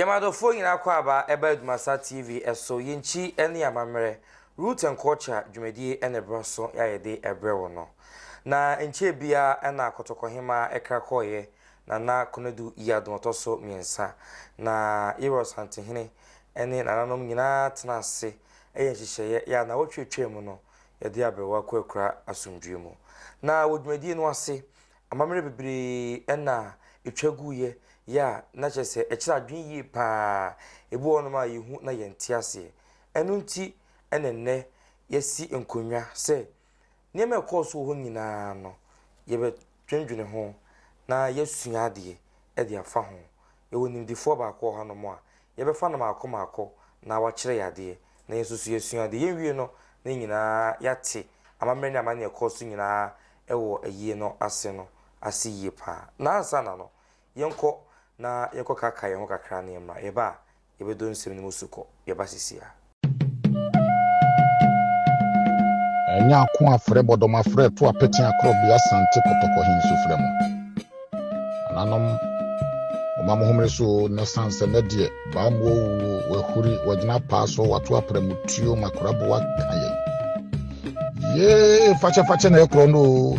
Yɛn adɔfoɔ nyinaa akwaaba ɛba Adwumasa TV so, yɛn kyi ne yɛn amammerɛ, Root and Culture dwumadie na ɛberɛ so a yɛde ɛbrɛ wo no. Na ɛnkyɛɛ biara na Kɔtɔkɔhemaa ɛkra kɔeɛ, Nana Konadu Yiadom ɔtɔ so mmiɛnsa, na Yerɔ Asantehene ne nananom nyinaa tenaa ase yɛɛ nhyehyɛeɛ yɛ anawɔtwe a ɛtwaam no yɛde aberewa kɔ akura asomdwoeɛ mu. Na wɔ dwumadie no ase Amammerɛ bebree na ɛtwa guiɛ yɛ a na kyerɛ sɛ ɛkyerɛ adwene yie pa ara. Ɛbi wɔ hɔnom a yɛhu na yɛnte aseɛ. Ɛno nti na ɛnnɛ yɛasi nkonnwa sɛ nneɛma a ɛkɔɔ so wɔ hɔ nyinaa no yɛbɛdwendwene ho na yɛasua adeɛ de afa ho. Yɛwɔ nimdefoɔ baako wɔ hanom a, yɛbɛfa no mmaako mmaako na wakyerɛ yɛn adeɛ, na yɛn nso so yɛasua adeɛ. Yɛnwie no na yɛn nyinaa yɛate amammerɛ ne amanneɛ a ɛkɔɔ so nyinaa wɔ ayie no ase no ase yie pa ara. Na ansa na no, yɛnkɔ na yɛnkɔkaakae yɛn ho kakra na yɛmmra. Yɛba a, yɛbɛdɔ nsɛm no mu sukɔ. Yɛba seesei ara. Ɛnyɛ ako afrɛ bɔdɔm afrɛ to apete akorɔ bea sante kɔtɔkɔ he nso frɛ mo. Ananom, moma mo homere so o, na san sɛ nɛ deɛ, baa mu ɔwuo, wahuri, wagyina paa so, wato aprɛ mu tuo, makoraboa ka yɛn. Yee, fakyɛfakyɛ na ɛkorɔ no o.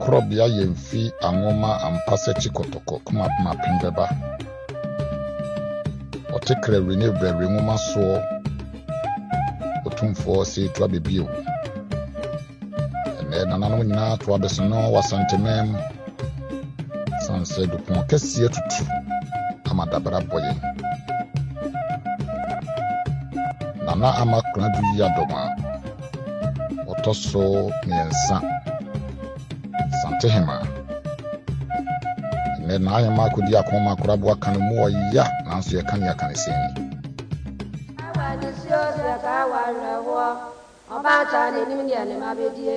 Korɔbea yɛ mfi anwoma ampa sɛ ti kɔtɔkɔ kuma kuma pem bɛba. Ɔte krɛ we ne vrɛ we nwoma soɔ otumfoɔ se to abɛbie wo. Ɛnɛ nananom nyinaa to abɛsono wɔ asanteman mu. San sɛ dupɔn kɛseɛ tutu ama dabra bɔ yɛn. Nana ama kora du yi adɔm a ɔtɔ so mmiɛnsa santehema ɛnɛ na ayɛ mako di ako ma akorabo aka no mu ɔya nanso yɛka ne aka ne sɛn ni Awa ne suo so yɛka awa awerɛhoɔ ɔbaata n'anim deɛ ne ma bɛdie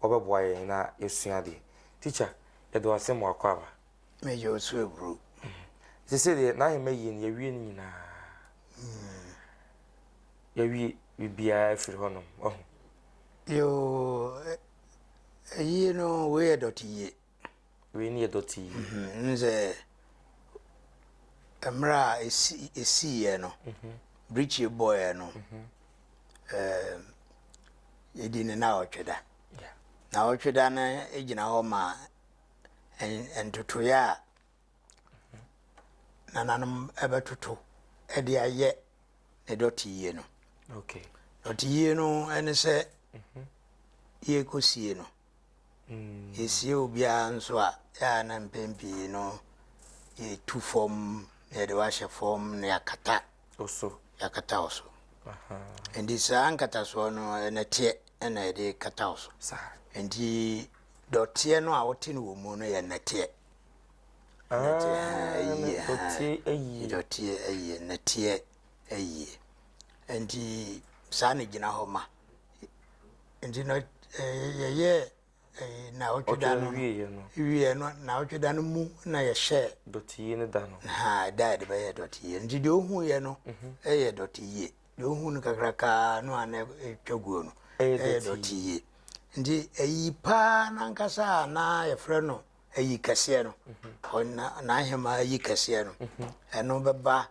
ɔbɛboa yɛn na yɛasua adeɛ. Tikya, yɛda wo ase ma w'akwaaba. Meyɛ wo so aburo. Seesei deɛ n'ahema yie no, yɛawie ne nyinaa. Yɛawie biribiara afiri hɔnom, wahu. Yoo, ayie no, wei yɛ dɔteyie. wei ne yɛ dɔte yi. N sɛ mmerɛ a ɛsiiɛ no mhm. birikyie bɔɔɛ no mhm. yɛdi ne na ɔtwe da na ɔtwe da no gyina hɔ ma ntotoeɛ a mhm. nananom ɛbɛtoto ɛde ayɛ ne dɔte yie no dɔte yie no ɛne sɛ yɛkɔsie no Yɛsie obiara nso a, yɛ a na mpɛn pii no yɛtu fam na yɛde wo ahyɛ fam na yɛakata so. Yɛakata wo so. Nti saa nkatasoɔ no nɛteɛ na yɛde kata wo so. Nti dɔteɛ no a wote no wɔ mu no yɛ nɛteɛ. Dɔteɛ ayie, nɛteɛ ayie. Nti saa na gyina hɔ ma. nti no yɛyɛɛ naawɔtwe da no wieɛ no naawɔtwe da no mu na yɛhyɛɛ dɔteyie no da no ha da a yɛde bɛyɛ dɔteyie nti deɛ ɔhuiɛ no mhm. ɛyɛ dɔteyie deɛ ɔhu no kakrakaa no a na ɛtwa guo no ɛyɛ dɔteyie nti ayi paa nankasa a na yɛfrɛ no ayi kɛseɛ no mhm. n'ahema ayi kɛseɛ no mhm. ɛno bɛba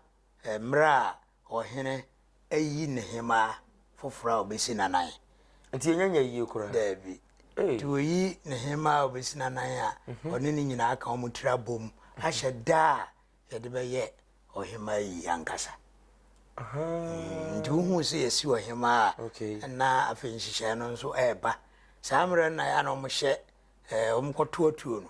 mmerɛ a Ɔhene ayi ne hemmaa foforɔ a ɔbɛsi n'anan. Nti ɛnyɛ nyɛ yie koraa? Daabi. Nti ɔyi ne hemmaa a ɔbɛsi n'anan a ɔne ne nyinaa ka wɔn tiri abom ahyɛ da a yɛde bɛyɛ ɔhemmaa ayie ankasa. Nti wohuu sɛ yɛsi ɔhemmaa a na afei nhyehyɛeɛ no nso ɛreba. Saa mmerɛ no na yɛ a na wɔhyɛ wɔkɔto atuo no.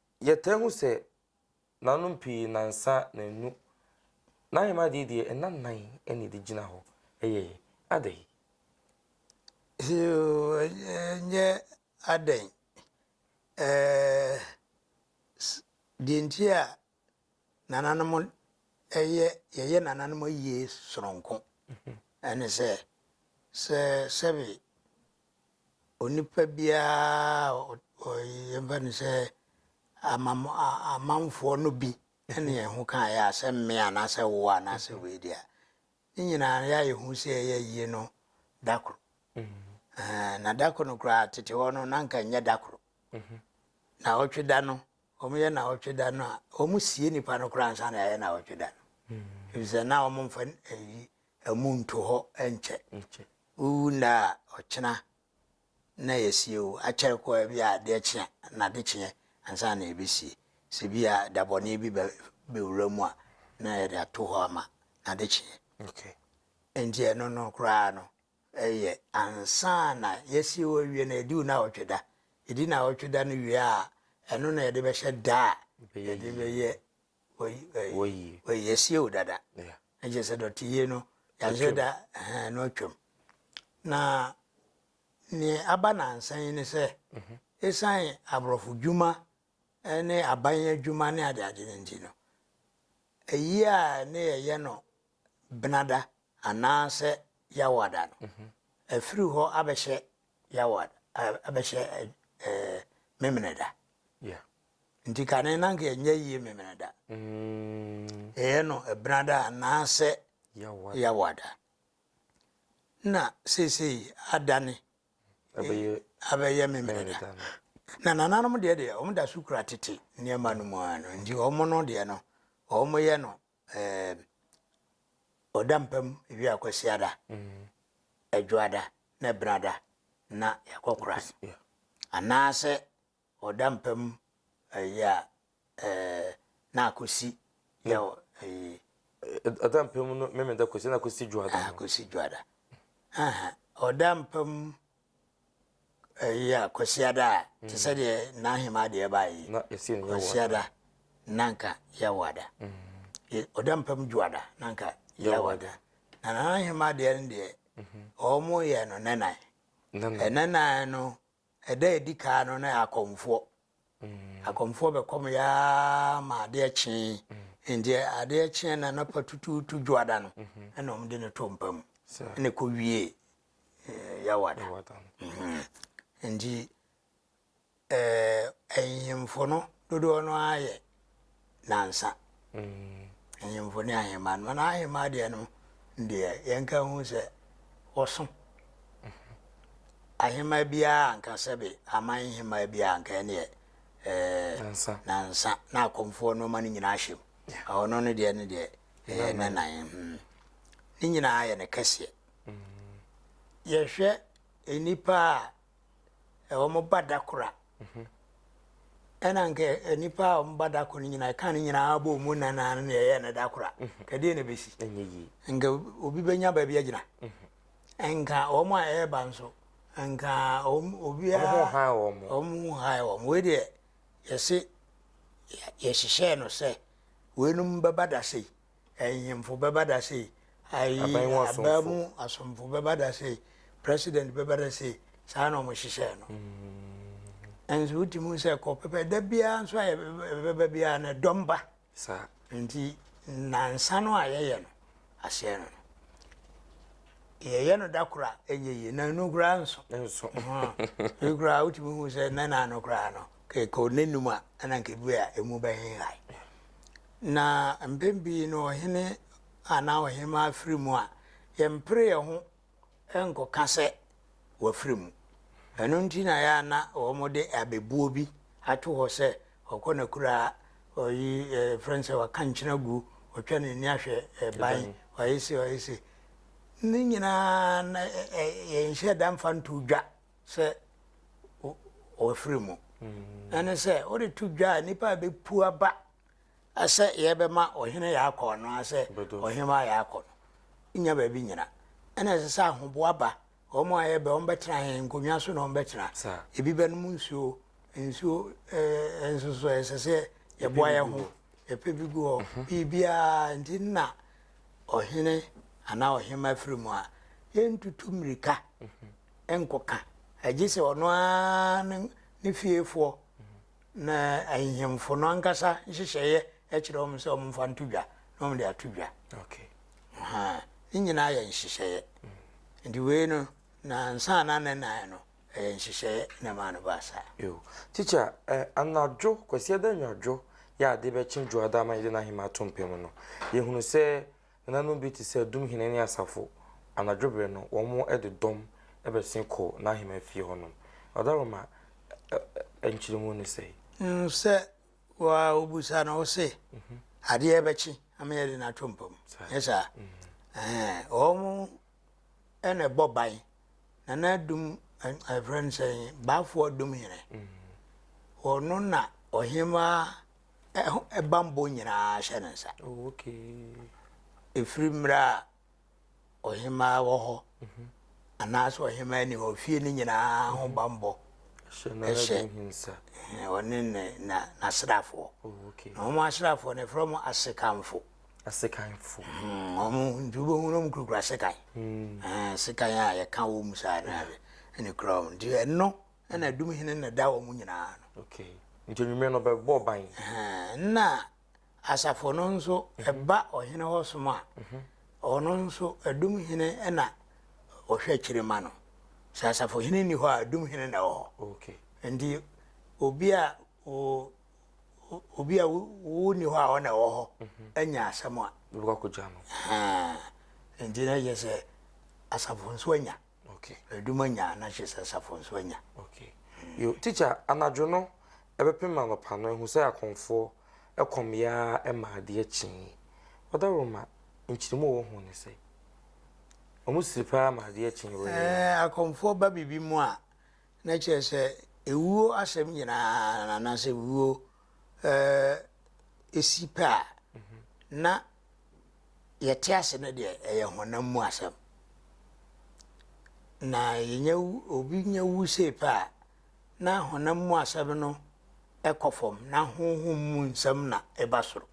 Yɛtaa hu sɛ nanom pii nansa nannu. N'ahemmaa deɛ deɛ nna nnan na ɛde gyina hɔ. Ɛyɛ adɛn? Yoo, ɛnyɛ adɛn. Deɛ nti a nananom yɛ, yɛyɛ nananom ayie sononko ne sɛ, sɛ sɛbe Onipa biara a yɛmfa no sɛ amanfoɔ no bi ne yɛn ho ka yɛ a sɛ mme anaasɛ wo anaasɛ wei deɛ a ne nyinaa yɛ a yɛhu sɛ ɛyɛ yie no da koro mm-hmm. na da koro no koraa tete hɔ no na nka nyɛ da koro mm-hmm. na ɔtwe da no wɔyɛ na ɔtwe da no a wɔsie nipa no koraa nsa na ɛyɛ na ɔtwe da no mm-hmm. ɛfisɛ na wɔmfa ayi Amu nto hɔ nkyɛ. Wowu nnɛ a, ɔkyena na yɛasie wo. Akyɛre koraa bi a, adeɛ kye a, nnade kyeɛ ansa na yɛbɛsie. Sɛ bi a da bɔne bi bɛwura mu a, na yɛde ato hɔ ama na ade kyeɛ. Enti ɛno no koraa no, ɛyɛ ansa na yɛasie wo awie no, ɛdi wo nnawɔtwe da. Ɛdi nnawɔtwe da no wie a, ɛno na yɛde bɛhyɛ da a yɛde bɛyɛ wɔyi asie wo dada ɛkyɛ sɛ dɔteyie no yɛahyɛ da na ɔtwam na neɛ aba nansa yi ne sɛ ɛsiane mhm. aborɔfo dwuma ne aban adwuma ne adeade no nti no ɛyi a ne yɛyɛ no benada anaasɛ yɛawada no mhm. ɛfiri hɔ abɛhyɛ Yawad abɛhyɛ Memeneda. Nti kane na nka ɛnyɛ yie Memeneda. Ɛyɛ no Ɛbenada anaasɛ Yawada. Na seesei adane abɛyɛ Memeneda. Na nananom deɛ deɛ wɔn da so kura tete nneɛma no mu ara no. Nti wɔn no deɛ no wɔn yɛ no Eeeeb Ɔda mpa mu wia Kwasiada, Adwoada ne Ɛbenada na yɛakɔ kora no anaasɛ ɔda mpa mu ayi a eeeeb na akosi yɛ eeeeb. Ɔda mpa mu no Memeda Kwasiada na akosi Dwoada no. Akosi Dwoada. Ahaa Ɔda mpa mu ɛyɛ a kwasiada a mm. te sɛ deɛ n'ahema deɛ ba yi kwasiada nanka yɛwada mm. ɔda mpam dwoada nanka yɛwada na n'ahema deɛ no deɛ wɔn mhm. yɛ no nɛnan ɛnɛnan no ɛda edi kaa no na akɔmfoɔ Akɔmfoɔ bɛkɔmeeɛ ara ma adeɛ kyee. Enti adeɛ kyeeɛ no anɔpa tutuutu dwoada no, ɛna wɔde no too mpa mu. Ɛna ɛkɔwiee eh, Yawada. Mhm. Enti eh, ahemfo no dodoɔ no ara yɛ nnansa. Ahemfo ne ahemmaa no, na ahemmaa deɛ no deɛ yɛnka hu sɛ wɔso. Ahemmaa biara anka sɛbe aman hemmaa biara anka ɛneɛ ɛɛ nansa na akɔmfoɔ nneɛma no nyinaa ahyɛ mu. Ɔno no deɛ no deɛ ɛyɛ nanan. Hmm. Ne nyinaa yɛ ne kɛseɛ. Yɛhwɛ nnipa a wɔba da koro a, ɛna nka nnipa a wɔba da koro no nyinaa ɛka no nyinaa bɔ mu na na ne ɛyɛ no da koro a nka deɛ na ɛbɛsi nka obi bɛnya baabi agyina nka wɔn a ɛreba nso nka obiara wɔn hae wɔn wei deɛ yɛse yɛhyehyɛɛ no sɛ weinom bɛba da sei Ahemfo bɛba da sei, ayi, Aban mu asomfo. aban mu asomfo bɛba da sei, president bɛba da sei, saa na wɔhyehyɛɛ no. Nso wotumi hu sɛ kɔ pɛpɛ, da biara nso a yɛbɛba yɛbɛba biara no, dɔm ba. saa. Nti nnansa no a yɛyɛ no, aseɛ no no, yɛyɛ no da koro a, ɛnyɛ yie, nnanu koraa nso. nso Aha. Wei koraa wotumi hu sɛ nnɛna no koraa no, kɛkɛ ɔnnanum a, ɛna nka ebi a emu bɛhenhae. Na mpɛn pii no ɔhene anaa ɔhemmaa firi mu a, yɛmpere yɛn ho nkɔka sɛ wafiri mu. Ɛno nti na ɛyɛ a na wɔde abɛbuo bi ato hɔ sɛ ɔkɔ n'akuraa, ɔyi ɛfrɛ no sɛ waka nkyena gu, ɔtwa n'ani ahwɛ ban, ɔyɛ se ɔyɛ se. Ne nyinaa na yɛnhyɛ da mfa nto dwa sɛ wafiri mu. Ɛne sɛ wode to dwa a nnipa a ɛbɛpu aba Sɛ yɛbɛma Ɔhene Yaakɔ anaasɛ Ɔhemmaa Yaakɔ no nya baabi nyina, ɛna ɛsɛ sɛ ahoboa ba. Wɔn a yɛbɛ wɔn bɛtena yɛn nkonnwa so na wɔn bɛtena. Ebi bɛnom nsuo, nsuo ɛɛ nsoso ɛsɛ sɛ yɛboa yɛn ho, yɛpɛ bi gu hɔ, mhm. biribiara nti na ɔhene anaa ɔhemma firi mu a yɛntutu mmirika mhm. nkɔka agye sɛ ɔno ara ne fiefoɔ Na ahemfo no ankasa nhyehyɛeɛ kyerɛ wɔn sɛ wɔmfa nto dwa na wɔde ato dwa. Ahaa, ne nyinaa yɛ nhyehyɛeɛ. Nti wei no, na ansa na ne nan no, ɛyɛ nhyehyɛeɛ na ɛmaa no baa saa. Yo, teacher, eh, anadwo, Kwasiada anwadwo, yɛ a ade bɛkye Dwoada ama yɛde n'ahemmaa to mpa mu no, yɛhunu sɛ Nananom bi te sɛ dumhene ne asafo, anadwo bere no wɔde dɔm bɛsen kɔ n'ahemman fie hɔnom. Ɔda Roma ɛ nkyerɛmu no sɛe. Hu sɛ wo ara wobisa no, wose, Adeɛ bɛkye ama yɛde no ato mpa mu, nyɛ saa? Ɛɛ, wɔn na ɛbɔ ban, nana dum, ɛfrɛ no sɛn, baafoɔ dumhene. Ɔno na ɔhemmaa ɛho bammɔ nyinaa hyɛ ne nsa. Oh, okay. Ɛfiri mmerɛ a ɔhemaa wɔ hɔ mhm. anaasɛ ɔhemaa ni hɔ fie no nyinaa ho mhm. bammɔ ɛhyɛ ɔne n'asraafoɔ oh, na wɔn asraafoɔ no ɛfrɛ mu asekanfo asekanfo hmm, wɔn nti wobɛhu no kurakura sekan hmm. eh, sekan a yɛka wɔ mu saa no ɛne kura wɔn nti ɛno Ɛna dum hene na da wɔn nyinaa no. Okay. Nti enyimire no bɛbɔ ban. Na asafo no nso ɛba mhm. ɔhene hɔ som a. Mhm. Ɔno nso dum hene na ɔhwɛ akyire ma no. Sɛ asafo hene ni hɔ a dum hene na ɛwɔ hɔ. Okay. Nti obi a o obi a wo ni hɔ a ɔna ɛwɔ hɔ mhm. anya asɛm a. Wobɛkɔ akɔgya no. Nti na yɛ sɛ asafo nso anya. Okay. Adum anya a na kyerɛ asafo nso anya. Okay. Yo, teacher, anadwo no ɛbɛpem anɔpa no ehu sɛ akɔmfoɔ ɛkɔm yaa ma adeɛ kyee. Ɔdawuruma, nkyeremu wɔ ho ne sɛ wɔn siri paa ma adeɛ kyee wɔ yɛ. Ɛɛ akɔmfoɔ ba bibi mu a na kyerɛ sɛ ewuo asɛm nyinaa anaasɛ ewuo ɛɛ esi pɛ a na yɛte ase no deɛ ɛyɛ honam mu asɛm na yɛnya obi nya wu sei pɛ a na honam mu asɛm no ɛkɔ fam na honhom mu nsɛm na ɛba soro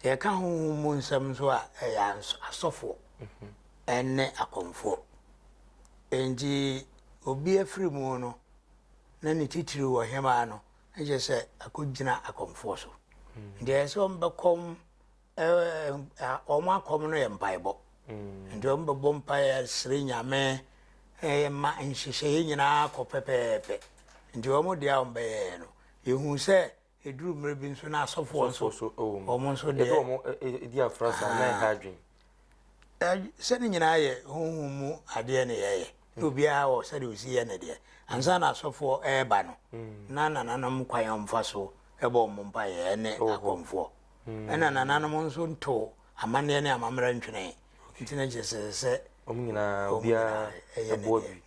yɛka honhom mu nsɛm nso a ɛyɛ asɔfoɔ mhm. ɛne akɔmfoɔ enti obi afiri mu no na ne titiri wɔ hemaa no na kyerɛ sɛ akɔgyina akɔmfoɔ so. Nti ɛyɛ sɛ wɔbɛkɔm wɔn akɔm no yɛ mpaebɔ. Mm. Nti wɔbɛbɔ mpaeɛ sere Nyame ma nhyehyɛeɛ nyinaa kɔ pɛpɛɛpɛ. Nti wɔn deɛ a wɔbɛyɛɛ no, yɛhu sɛ ɛduru mmerɛ bi nso na asɔfoɔ nso wɔn nso deɛ. Yɛde wɔn di afra saa na ɛha adwene. Ɛ sɛ ne nyinaa yɛ honhom mu adeɛ ne yɛyɛ na obiara wɔ sɛdeɛ ɔsi yɛ ne deɛ ansa na asɔfoɔ ɛreba no na nananom kwan a wɔfa so ɛbɔ wɔn mpaeɛ ɛne akɔmfoɔ ɛna nananom nso nto amanneɛ ne amammerɛ ntwene nti na kyerɛ sɛ sɛ wɔn nyinaa obiara ɛyɛ ne deɛ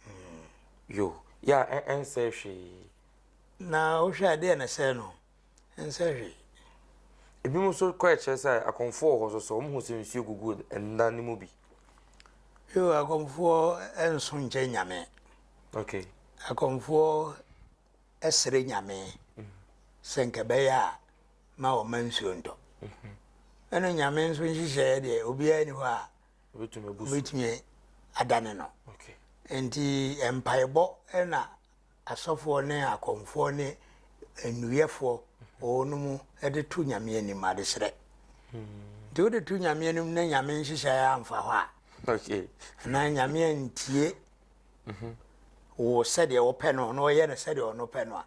yo yɛ a ɛnsɛ hwee na wohwɛ adeɛ na sɛ no ɛnsɛ hwee. Ebinom nso kɔɛ kyerɛ sɛ akɔmfoɔ wɔ hɔ nso so, wɔhu sɛ nsuo gugu nna no mu bi. Yo, akɔmfoɔ nso nkyɛ nyame. Okay. Akɔmfoɔ ɛsrɛ nyame mm. sɛ nkɛbɛyɛ a ma wɔma nsuo ntɔ. Mm -hmm. ɛne nyame nso nhyehyɛeɛ deɛ obiara ni hɔ a wobɛtumi adane no nti mpaebɔ na Asɔfoɔ ne akɔmfoɔ ne nnuruyɛfoɔ wɔwɔ no mu de to Nyame anim, adesrɛ. Nti wode to Nyame anim na Nyame nhyehyɛeɛ amfa hɔ a, anaa Nyame antie mhm. wo sɛdeɛ wopɛ no na ɔyɛ no sɛdeɛ ɔno pɛ no a,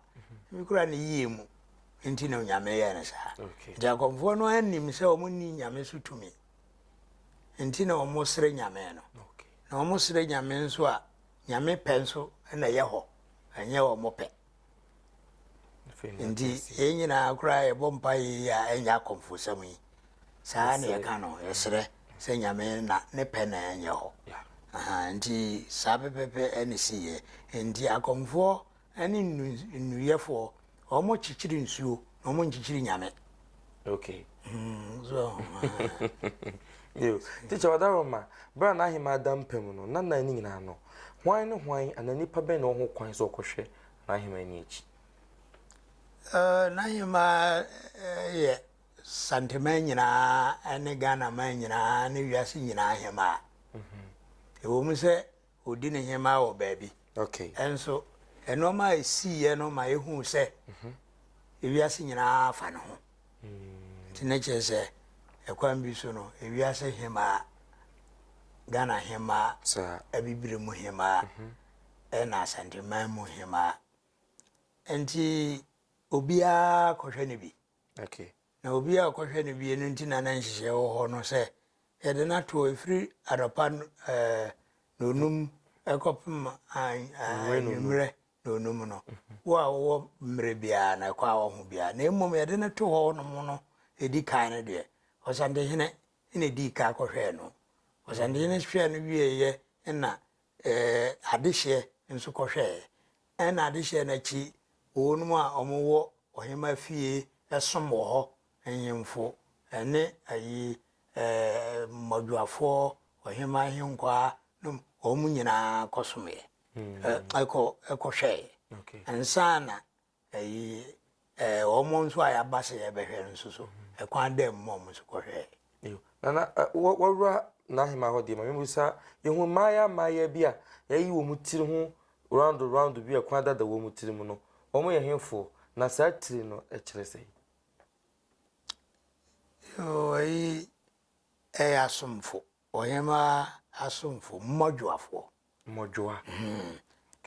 ebi kora ne yie mu nti na Nyame yɛ no saa. Nti akɔmfoɔ no anim sɛ wɔn ni Nyame so tumi nti na wɔn srɛ Nyame no. Na wɔn srɛ Nyame nso a, Nyame pɛ nso na ɛyɛ hɔ, ɛnyɛ wɔn pɛ. Nti yɛn nyinaa koraa yɛbɔ mpa yi a ɛnyɛ akɔmfosɛm yi. Saa na yɛka no, yɛsrɛ sɛ Nyame na ne pɛ na ɛnyɛ hɔ. Nti saa pɛpɛpɛ ɛne si yɛ. Nti akɔmfoɔ Ɛne nnu nnuruyɛfoɔ, wɔn kyekyere nsuo na wɔn nkyekyere nyame. Okay. Mm, so. Yo, teacher Wadaroma, bere a n'ahemmaa da mpa mu no, na nnan no nyinaa no, hwan ne hwan anaa nnipa bɛn na ɔho kwan sɛ ɔkɔhwɛ n'ahemmaa no akyi? Uh, n'ahemmaa uh, yɛ Santeman nyinaa ne Ghana man nyinaa ne wiase nyinaa ahemmaa. Mm-hmm. Ɛwɔ mu sɛ ɔdi ne hemaa wɔ baabi. Nso nnoɔma a ɛsiiɛ no ma yɛhuu sɛ ewiase nyinaa fa ne ho. Nti ne kyerɛ sɛ ɛkwan bi so no ewiase hemaa, Ghana hemaa, Abibire mu hemaa, ɛna Asanteman mu hemaa. Nti obiara kɔhwɛ ne bi. Na obiara a ɔkɔhwɛ no bi no nti na na nhyehyɛe wɔ hɔ no sɛ yɛde no ato hɔ ɛfiri anɔpa nnɔnum kɔpem anwummerɛ nnɔnum no. Wo a wowɔ mmerɛ biara no ɛkɔ a woahu biara. Na mmom yɛde no to hɔnom no ɛdi kan no deɛ, Ɔsantehene na ɛdii kan kɔhwɛɛ no. Ɔsantehene hwɛɛ no wieeɛ na adehyeɛ nso kɔhwɛeɛ. Ɛnna adehyeɛ no akyi, wɔnom a wɔwɔ ɔhemmaa fie som wɔ hɔ, nhemfo ne ayi mmɔdwoafoɔ, ɔhemmaa ahenkwaa nom, wɔn nyinaa kɔsomeeɛ, ɛkɔhwɛeɛ. Ansa na ayi Ɛɛ wɔn nso a yɛaba sɛ yɛbɛhwɛ no nso so, ɛkwan dɛn mu na wɔn nso kɔhwɛɛ? Eyo. Nana, ɛ, wɔ, wɔwura n'ahemmaa hɔ deɛ, ma memmisa, yɛhu mmaayaa mmaayaa bi a yɛayi wɔn tiri ho roundo roundo bi a kwan dada wɔn tiri mu no, wɔn yɛ hefoɔ, na saa tiri no kyerɛ sɛn? Yoo, eyi yɛ asomfo. Ɔhemmaa asomfoɔ, mmɔdwoafoɔ. Mmɔdwoa.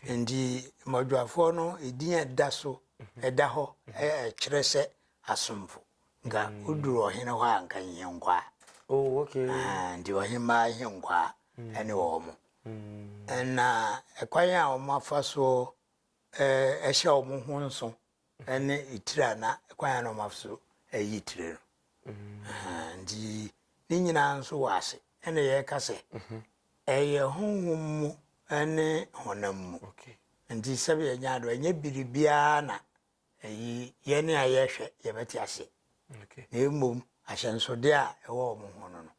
Nti mmɔdwoafoɔ no edin a ɛda so ɛda hɔ ɛkyerɛ sɛ asomfo. Nka woduru ɔhene hɔ a nka nhenkwaa. Oh, okay. Ah, nti ɔhemmaa nhenkwaa ɛne wɔn. Ɛna ɛkwan a wɔafa so ɛhyɛ wɔn ho nso. Ɛne etire a na kwan a na wɔafa so ayi etire no. Nti ne nyinaa nso wɔ ase. Ɛna yɛka sɛ ɛyɛ honhom mu ne honam mu. Nti sɛbi yɛnya ado ɛnyɛ biribiara na ɛyi yɛne a yɛhwɛ yɛbɛte aseɛ. Na mmom ahyɛnsodeɛ a ɛwɔ wɔn ho no no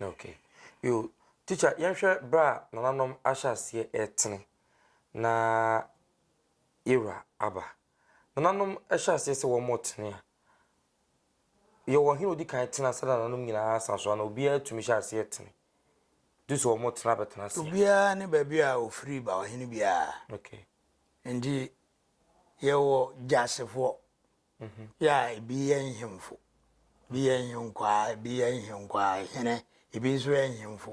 Okay. Yoo, teacher yɛnhwɛ berɛ a nananom ahyɛ aseɛ retene na yɛwura aba. Nananom hyɛ aseɛ sɛ wɔn retene a, yɛwɔ ɔhene odi kan tena ansa na nananom nyinaa asan so ana obiara tumi hyɛ aseɛ tene du sɛ wɔn retena abɛtena aseɛ? Obiara ne baabi a ofiri ba ɔhene biara. Okay. Nti yɛwɔ gyasefoɔ Yɛ a ebi yɛ nhemfo, ebi yɛ nhenkwaa, ebi yɛ nhenkwaa hene, ebi nso yɛ nhemfo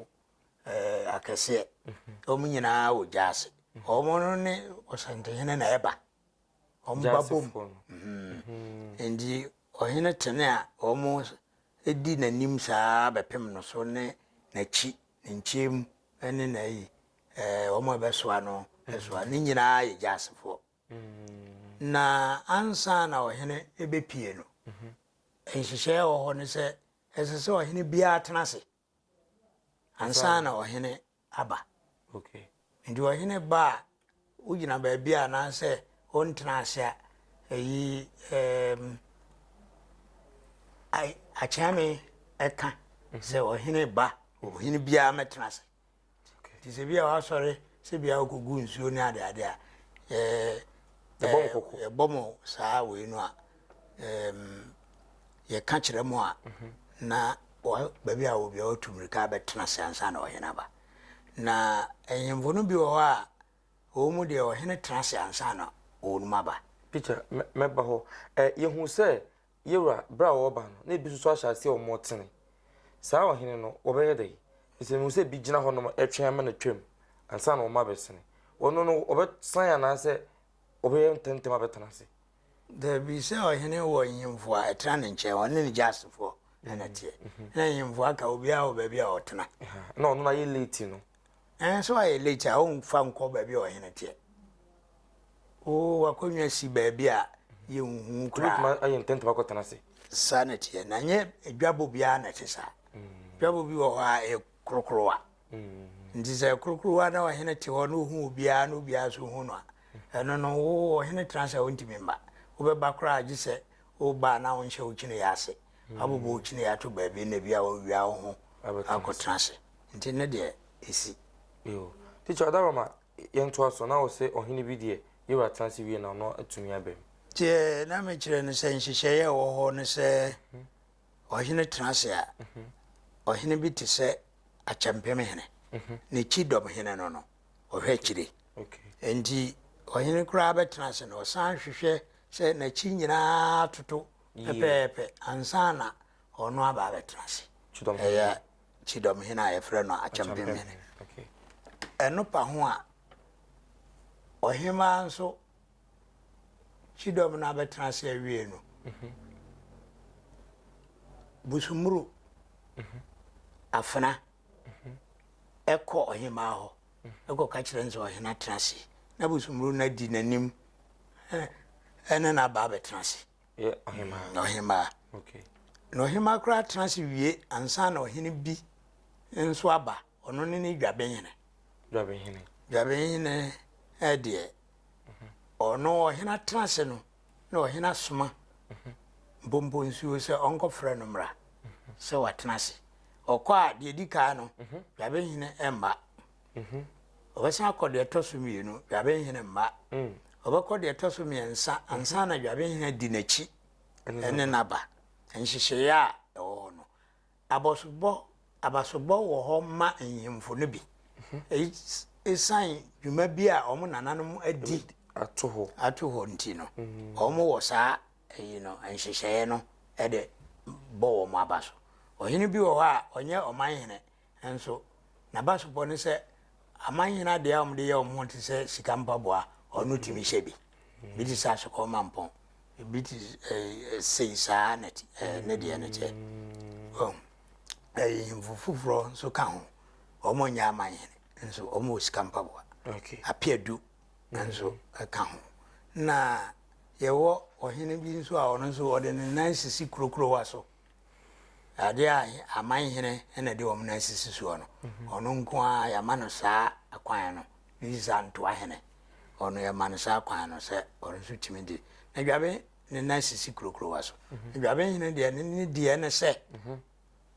akɛseɛ. Wɔn nyinaa wɔ gya ase. Wɔn no ne ɔsantehene na ɛba. Wɔn ba bom. Nti ɔhene tene a wɔn di n'anim saa bɛpem no so ne n'akyi ne nkyɛn mu ne n'ayi wɔn a ɛbɛsoa no ɛsoa ne nyinaa yɛ gyasefoɔ Na ansa na ɔhene rebɛpue no, nhyehyɛeɛ wɔ hɔ no sɛ ɛsɛ sɛ ɔhene biara tena ase ansa na ɔhene aba. Nti ɔhene ba a wogyina baabi a anaasɛ ɔntena ase a ɛyi akyɛme ɛka sɛ ɔhene ba ɔhene biara mɛtena ase. Nti sɛ bia wasɔre sɛ bia ɔkɔgu nsuo ne adeade a yɛbɔ mo saa wei no a yɛka kyerɛ mo a mhm. na baabi a wɔbia wɔtu mmirika bɛtena se ansa na ɔhene aba na ɛnyemfo no bi wɔ hɔ a wɔn mu deɛ ɔhene tena se ansa na wɔnom aba peter mɛba hɔ yɛhu sɛ Yewura, bere a wɔreba no, na ebi nso ahyɛ aseɛ wɔ Mɔtene. Saa ɔhene no, wɔbɛyɛ dɛn? Ɛfiri sɛ mehu sɛ ebi gyina hɔnom retwɛn ama no atwam ansa na wɔn abɛsene. Ɔno no, ɔbɛsan anaasɛ ɔbɛyɛ ntɛmntɛm abɛtena ase? Dabi, sɛ ɔhene wɔ nyemfo a, ɛtena ne nkyɛn, ɔne ne gya asefoɔ na na ɛteɛ. Na nyemfo aka obiara wɔ baabi a ɔtena. Na ɔno no ayɛ leeti no, Nanso ayɛ late a womfa nkɔ baabi a ɔhene teɛ. Oo wakonnwa si baabi a yɛnhu koraa. Tumi ayɛ ntɛntɛm akɔtena ase. Saa na teɛ na nyɛ dwabɔ biara na ɛte saa. Dwabɔ bi wɔ hɔ a ɛyɛ korokorowa. Nti sɛ korokorowa na ɔhene te hɔ na ohu obiara na obiara nso hu no a, ɛno no wo ɔhene tena ase a wontumi mma. Wobɛba koraa gye sɛ woba na wonhyɛ wo kyini yɛ ase. abobɔ wo kyini ato baabi na bi a wawia wo ho akɔtena ase nti ne deɛ ɛsi Yo. Teacher ɔda hɔ ma yɛntoa so na ɔsɛ ɔhene bi deɛ ne wura tena ase wie na ɔno atumi aba mu. Deɛ na mekyerɛ no sɛ nhyehyɛeɛ a ɛwɔ hɔ ne sɛ ɔhene tena ase a ɔhene bi te sɛ akyɛmpem hene ne kyidɔm hene no no ɔhwɛ akyire nti ɔhene koraa bɛtena ase na ɔsan hwehwɛ sɛ n'akyi nyinaa atoto Pɛpɛɛpɛ, ansa na ɔno aba abɛtena ase. Ɛyɛ Kyidɔmhene a yɛfrɛ no Akyɛmpemhene. Ɛno pa ho a, ɔhemaa nso Kyidɔm no abɛtena ase awie no, mhm. Busumuru mhm. afena mhm. ɛkɔ ɔhemaa hɔ. na kɔka kyerɛ no sɛ ɔhene atena ase na bosommuro no adi n'anim ɛne no aba abɛtena ase ɔhemaa na ɔhemaa koraa tena ase wie ansa na ɔhene bi nso aba ɔno ne ne dwabenhene dwabenhene ɛdeɛ ɔno ɔhene atena ase no na ɔhene asoma mpompo nsuo sɛ ɔnkɔfrɛ no mmra sɛ watena ase ɔkɔ a deɛ di kan no dwabenhene mma ɔbɛsan akɔ deɛ ɛtɔ so mmienu dwabenhene mma ɔbɛkɔ deɛ ɛtɔ so mmiɛnsa ansa na dwabenhene di n'akyi ɛne n'aba nhyehyɛeɛ a ɛwɔ hɔ no Abɔsobɔ, Abasobɔ wɔ hɔ ma nhemfo no bi. Eyi esiane dwuma bi a wɔn nananom adi ato hɔ nti no, wɔwɔ saa eyi no nhyehyɛe no de bɔ wɔn abaso. Ɔhene bi wɔ hɔ a ɔnyɛ ɔmanhene nso, n'abasobɔ ne sɛ amanhene ade a wɔde yɛ wɔn ho te sɛ sika mpaboa, ɔno tumi hyɛ bi. Ebi te sɛ asokɔ mampɔn. Ebi te ɛɛ sei saa na ti ɛɛ ne deɛ no kyɛ. Wɔn ɛyɛ nhemfo foforɔ nso ka ho. Wɔn nyɛ aman hene nso wɔn wɔ sika mpaboa. Okay. Apeadu nso ka ho. Na yɛwɔ ɔhene bi nso a ɔno nso ɔde ne nan sisi kurokurowa so. Ade a aman hene na ɛde wɔn nan sisi soɔ no, mhm. ɔno nko ara yɛama no saa kwan no ne sisa ntoa hene. Ɔno yɛma no saa kwan no sɛ ɔno nso tumi de na dwabe ne nan sisi kurokurowa so. Mhm. Dwabe hene deɛ ne ne deɛ ne sɛ mhm.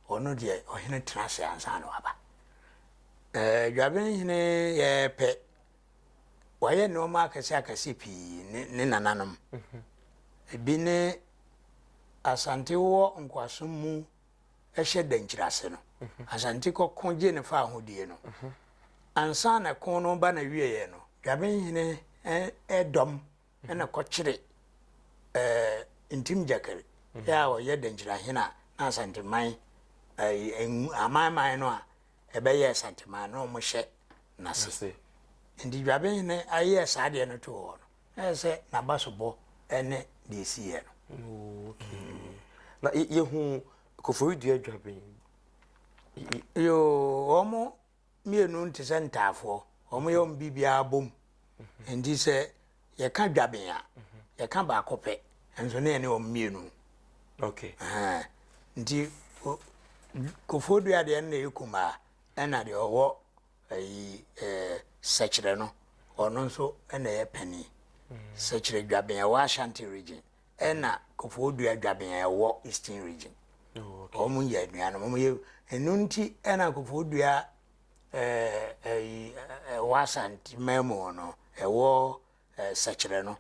ɔno deɛ ɔhene tena ase ansa na waba. Ɛɛ dwabe hene yɛpɛ wayɛ nnoɔma akɛse akɛse pii ne ne nananom ebi ne asante wɔ nkoasom mu ɛhyɛ dankyiri ase no asante kɔko gye ne fa ahodie no ansa na ɛko no ba na wieɛ no dwabenhene ɛdɔm ɛna kɔkyere ɛɛ ntim gyakari yɛ a ɔyɛ dankyiri ahene a na asante man ɛɛ amanman no a ɛbɛyɛɛ santemaa a na wɔhyɛ n'ase. Nti dwabenhene ayɛ saa deɛ no too hɔ no, na ɛyɛ sɛ n'abasobɔ ne deɛ ɛsiiɛ no. Oh, mm. Na yɛhu kofori dua dwaben. Yoo, wɔn mmienu te sɛ ntaafoɔ. Wɔn yɛ wɔn biribiara bom. Nti sɛ Yɛka dwaben a, yɛka baako pɛ, nso na yɛne wɔn mmienu. Okay. Uh, nti kofoɔ dua deɛ no na yɛ kumaa ɛna deɛ ɔwɔ ayi ɛɛ sɛkyerɛ no ɔno nso ɛna yɛ panin mm. sɛkyerɛ dwaben ɛwɔ ashanti region ɛna kofoɔ dua dwaben ɛwɔ eastern region oh, wɔn yɛ aduane wɔn yɛ ɛnu nti ɛna kofoɔ dua. eh, eh, eh, ɛwɔ Asanteman mu hɔ no, ɛwɔ eh, sɛkyerɛ no,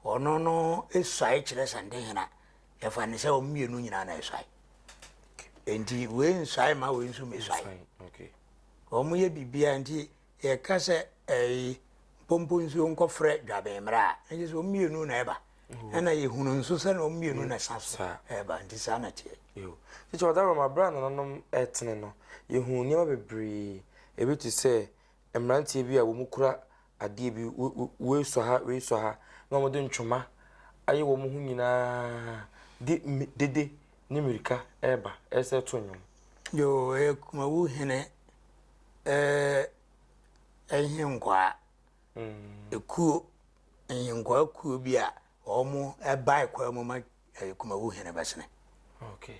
ɔno no esuae kyerɛ Santehena. Yɛfa ne sɛ wɔn mmienu nyinaa na esuae. Nti wei nsuae ma wei nso mesuae. Wɔn yɛ biribiara nti yɛka sɛ ɛyi eh, mpompo nsuo nkɔfrɛ dwabɛn mmerɛ a, ɛnyɛ sɛ wɔn mmienu na ɛba. ɛna yɛhunu nso sɛ na ɔmmienu na ɛsa so ɛba nti saa na teɛ kyɛ ɔda rɔma berɛ a nananom ɛtene no yɛhunu nneɛma bebree ebi te sɛ mmeranteɛ bi a wɔn kura adeɛ bi wei sɔ ha wei sɔ ha na wɔde ntwoma ayɛ wɔn ho nyinaa de dede ne mmirika ɛreba ɛsɛ to nnwom yoo ɛyɛ kumawu hene ɛɛ ɛhe nkwaa ekuo Nyenkwaa kuo bi a wɔn bae kwaa mu ma eh, Kumawu hene bɛsene. Okay.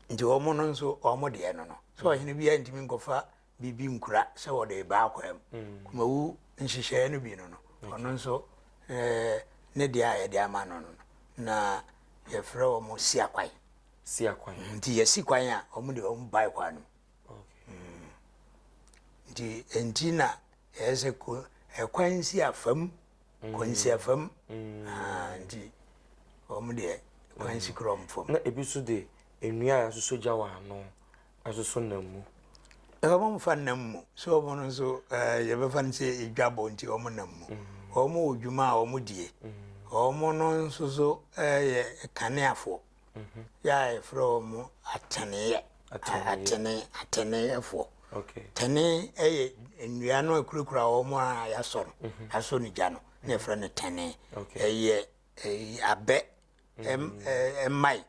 Nti wɔn no nso wɔn deɛ no no. So ɔhene biara ntumi nkɔfa biribi nkura sɛ wɔde baa kwaa mu. Mm. Kumawu nhyehyɛeɛ no bi no no. Ɔno nso eh, ne deɛ a yɛde ama no no no. Na yɛfrɛ wɔn siakwan. Siakwan. Nti yɛsi kwan a wɔn de wɔn bae kwaa no mu. nti nti na ɛyɛ sɛ ko ɛkwan nsi afam kɔ nsi mm. afam mm. ah, nti wɔn deɛ kwan nsi mm. korɔ mfam. na ebi nso de nnua a yɛasosɔ gya wɔ ano asosɔ nam mu. ɛka wɔn fa nam mu so wɔn no nso ɛɛ eh, yɛbɛfa no sɛ edwabɔ nti wɔn nam mu wɔn wɔ dwuma a wɔn die wɔn no nso so ɛyɛ eh, kaneafoɔ. yɛ a yɛfrɛ wɔn ateneeɛ atene ateneeɛfoɔ tene yɛ nnua no akurakura wɔn a yɛasɔ no mhm. yɛasɔ no gya no na yɛfrɛ no tene ɛyɛ abɛ mmae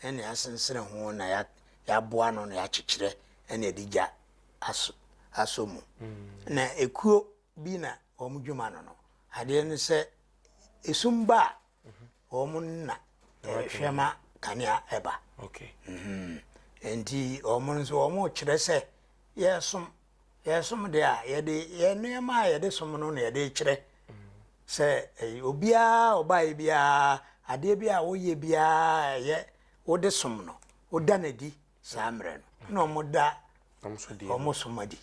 ɛne asensene ho na yɛaboa no na yɛakyekyerɛ ɛne ɛde gya asɔ mu mhm. na ekuo bi na wɔn dwuma no no adeɛ no sɛ esum ba a wɔn na ɛhwɛ ma kanea ɛba mhm. nti wɔn nso wɔn kyerɛ sɛ yɛsom yɛsom deɛ a yɛde yɛn nneɛma a yɛde som no na yɛde kyerɛ sɛ eh, obiara ɔbaeɛ biara adeɛ bi a woyɛ biara ɛyɛ wode som no woda no adi saa mmerɛ no, na wɔda wɔn som adi.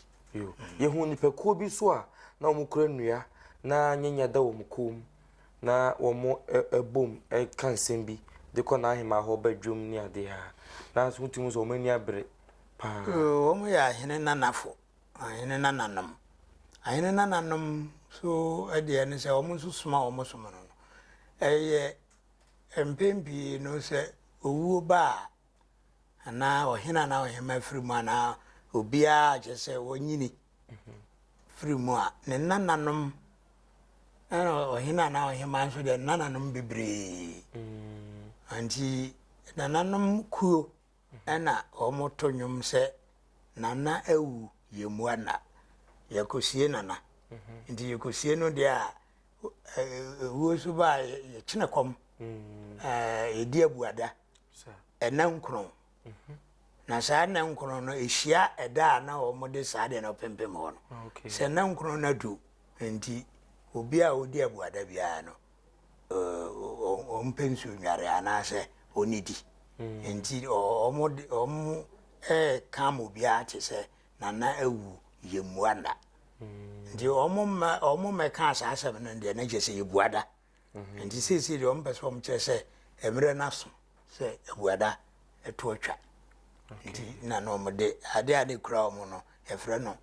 Yɛhunu nnipakuo bi nso a na wɔkura nnua na nyanya da wɔn kɔn mu na wɔbom ka nsɛm bi de kɔ n'ahemmaa hɔ ba dwam ne adeɛ a na nso wotumi sɛ wɔn ani abere paa. Wɔn yɛ ahene nanafo, ahene nananom. Ahene nananom nso deɛ ne sɛ wɔn nso soma wɔn som no no ɛyɛ mpɛn pii no sɛ owuo ba a anaa ɔhene anaa ɔhema firi mu anaa obiara kyɛ sɛ ɔnyini firi mu a ne nananom ɛna ɔhene anaa ɔhema nso deɛ nananom bebree mm. nti nananom kuo ɛna wɔto nnwom sɛ nana awu yɛmmua nna yɛkɔsie nana mhm. nti yɛkɔsie no deɛ a ɛwuo so baa yɛkyene kɔm mm. ɛdi abuada nna nkron. Na saa nna nkron no ehyia ɛda a na wɔde saa adeɛ no pempem hɔ no. Sɛ nna nkron no adu nti, obi a ɔdi abuada biara no, ɔmpɛ nsuo nnware anaasɛ ɔnnidi. Nti wɔka ma obiara te sɛ nana awu yɛmmua nna. Nti wɔmmɛkaa saa asɛm no deɛ na kyerɛ sɛ yɛbua da. Nti seesei deɛ wɔpɛ sɛ wɔkyerɛ sɛ mmerɛ no aso sɛ abuada to atwa. Nti na na wɔde adeɛ a na ɛkura wɔn no yɛfrɛ no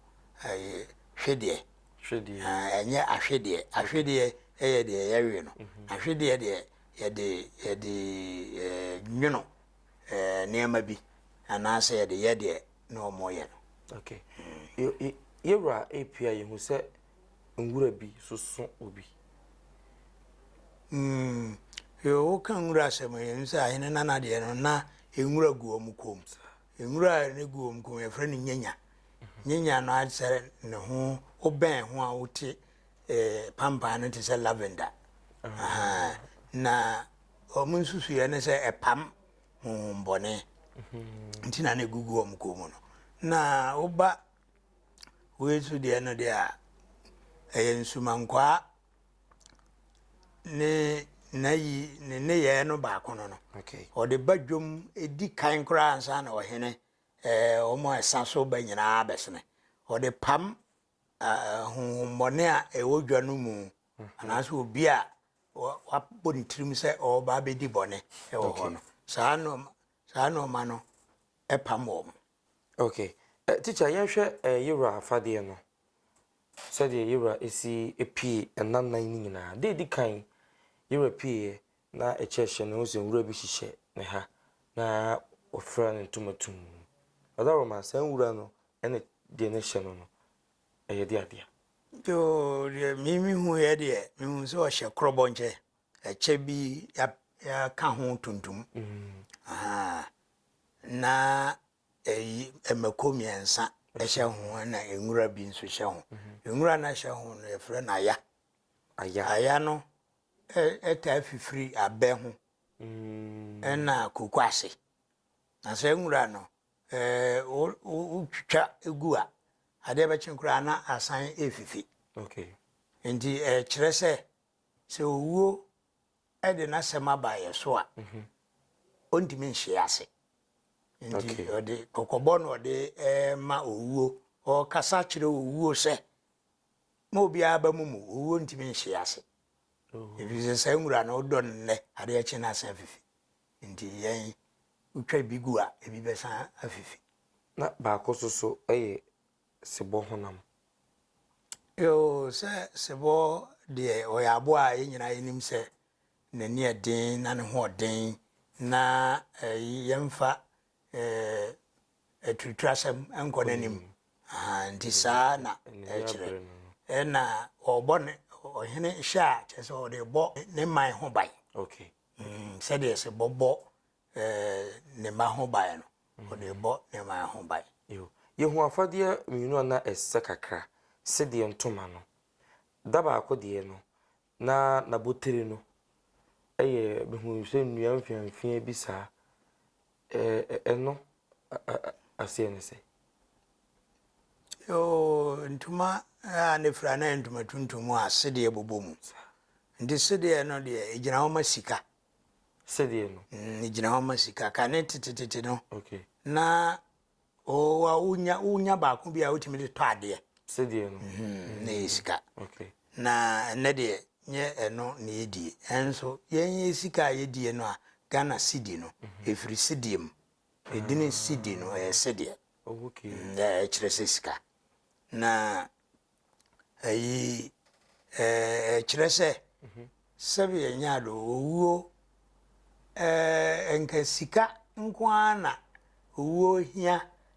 ɛyɛ hwedeɛ. Hwedeɛ. Ɛnyɛ ahwedeɛ. Ahwedeɛ yɛ deɛ yɛwe no. Ahwedeɛ deɛ yɛde yɛde ɛɛ nwono ɛɛ nneɛma bi anaasɛ yɛde yɛ deɛ na wɔyɛ no. Okay. Yɛwura apia yɛhu sɛ nwura bi soso obi. Mm, yɛwɔ ka nwura asɛm yɛn sɛ ahene nana deɛ no na nwura gu wɔn kɔn mu. Nwura a ne gu wɔn kɔn mu yɛfrɛ no nyanya. Nyanya no asɛ ne ho wobɛn ho a wote eh, pampan no te sɛ lavender. Ah. Na wɔn nsusuiɛ ne sɛ ɛpam honhom bɔne nti na na egugu wɔn kɔn mu no na woba wei so deɛ no deɛ a ɛyɛ nsumankwaa ne n'ayi ne nneyɛɛ no baako no no ɔde ba dwom edi kan koraa ansa na ɔhene ɛɛ wɔn a ɛsa so ba nyinaa bɛsene ɔde pam honhommɔne a ɛwɔ dwa no mu anaasɛ obi a wabɔ ne tirim sɛ ɔreba abɛdi bɔne wɔ hɔ no saa nnoɔma saa nnoɔma no pam wɔn. ok eh, teacher yɛnhwɛ eh, yewura afadeɛ no sɛdeɛ yewura ɛsi pie ɛna nnan no nyinaa deɛ ɛdi kan yewura pieeɛ na ɛkyɛ hyɛ no ho sɛ nwura bi hyehyɛ ne ha na wɔfira ne ntoma tum ɔda wɔ ma saa nwura no ɛne deɛ no hyɛ no no ɛyɛ de adeɛ. Yoo deɛ me me hu yɛ deɛ me hu sɛ ɔhyɛ korɔbɔ nkyɛ ɛkyɛ bi ya ya ka ho tuntum mm. na ɛyi ɛmɛko mmiɛnsa ɛhyɛ ho ɛna nwura bi nso hyɛ ho mhm. nwura na ɛhyɛ ho no yɛfrɛ no aya aya aya no ɛtaa fifiri abɛ ho mm. ɛna koko ase na sɛ nwura no Sɛ wotwitwa gu a, adeɛ bɛkye koraa na asan refifi. Nti ɛkyerɛ sɛ, sɛ owuo de n'asɛm aba yɛn so a, ɔntumi nhyee ase. Nti ɔde kɔkɔbɔ na ɔde ma owuo. Ɔkasa kyerɛ owuo sɛ, ma obiara aba mu mu, owuo ntumi nhyee ase. Ɛfiri sɛ saa nwura no, wodɔ no nnɛ, adeɛ kye na asan fifi. Enti yɛn, wotwa bi gu a, ebi bɛsan afifi. Na baako nso so yɛ sebɔ honam. Eo, sɛ sebɔ deɛ, ɔyɛ aboa a yɛn nyinaa yɛnim sɛ n'ani yɛ den na ne ho yɛ den, na yɛmfa aturuturasɛm nkɔ n'anim. Ahaa, enti saa na ɛkyerɛ. Ɛnna wɔbɔ ne ɔhene hyɛ a, kyerɛ sɛ wɔde rebɔ ne man ho ban. Okay. Sɛdeɛ ɛse bɔbɔ ne mma ho ban no, ɔde rebɔ ne man ho ban. Yɛhu afadeɛ mmienu a na ɛsɛ kakra, sedeɛ ntoma no. Da baako deɛ no, na n'abotire no yɛ, mehunuu sɛ nnua mfeamfeaa bi saa. Ɛno aseɛ ne sɛ. Yoo, ntoma a na ɛfira no yɛ ntoma tuntum a sedeɛ bobɔ mu. Nti sedeɛ no deɛ, ɛgyina hɔ ma sika. Sedeɛ no? Ɛgyina hɔ ma sika. Kane tetetete no, na Owa wonya wonya baako bi a wotumi de tɔ adeɛ. Sɛdeɛ no. Mm-hmm. Na yɛ sika. Okay. Na ɛnɛ deɛ nyɛ ɛno na yɛdie. Ɛnso yɛn yɛ sika a yɛdie no a Ghana sidi no mm-hmm. ɛfiri sidie mu. Ɛdini ah. sidi no ɛyɛ sedeɛ. Oh, okay. Mm, ɛkyerɛ sɛ sika. Na Ayi ɛkyerɛ sɛ sɛdeɛ nyaado owuo nka sika nko ara na owuo hia